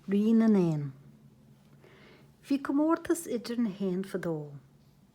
Rí na nÉan. Bhí comórtas idir na héin fadó.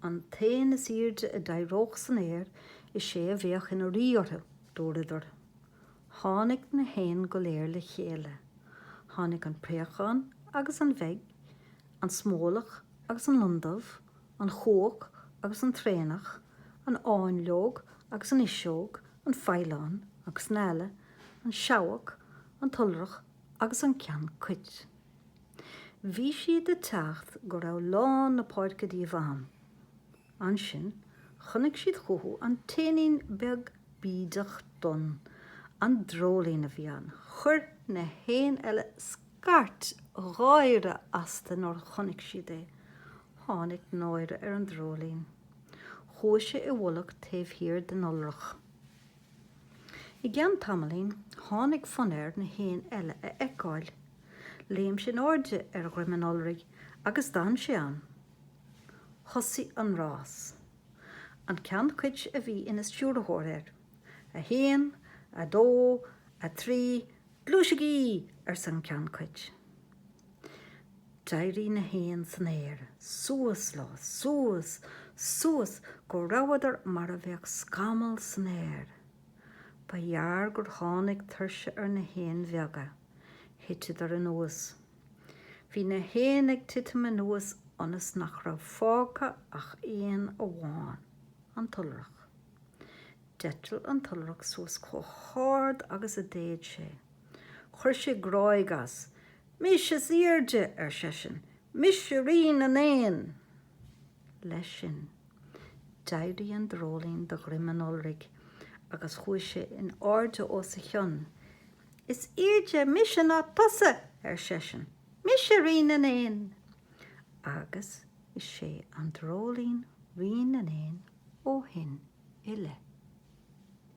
An t-éan is airde a d'éireodh san aer, is é a bheadh ina rí orthu, dúradar. Tháinig na héin go léir le chéile. Tháinig an préachán agus an mheaig, an smólach agus an lon dubh, an chuach agus an traonach, an fháinleog agus an fhuiseog, an faoileán agus an eala, an seabhac, an t-iolrach agus an ceann cait. Bhí siad ag teacht go raibh lán na páirce díobh ann. Ansin chonaic siad chucu an t-éinín beag bídeach donn. An dreoilín a bhí ann. Chuir na héin eile scairt gháire astu nuair a chonaic siad é. Tháinig náire ar an dreoilín. Chuaigh sé i bhfolach taobh thiar den iolrach. I gceann tamaillín, tháinig fonn air na héin eile a fheiceáil. Léim sé in airde ar dhroim an iolraigh agus d'fhan sé ann. Thosaigh an rás. An ceann cait a bhí ina stiúrthóir air. A haon, a dó, a trí, Gluaisigí! arsa an ceann cait. D'éirigh na héin san aer, suas leo, suas, suas, go rabhadar mar a bheadh scamall san aer. Ba ghearr gur tháinig tuirse ar na héin bheaga. Thiteadar anuas. Bhí na héin ag titim anuas ionas nach raibh fágtha ach éan amháin, an t-iolrach. D'eitil an t-iolrach suas chomh hard agus a d'fhéad sé. Chuir sé gráig as. Mise is airde! ar seisean. Mise Rí na nÉan! Leis sin, d'éirigh an dreoilín de dhroim an iolraigh agus chuaigh sé in airde os a chionn. Is airde mise ná tusa! ar seisean. Mise Rí na nÉan! Agus Is é an dreoilín Rí na nÉan ó shin i leith.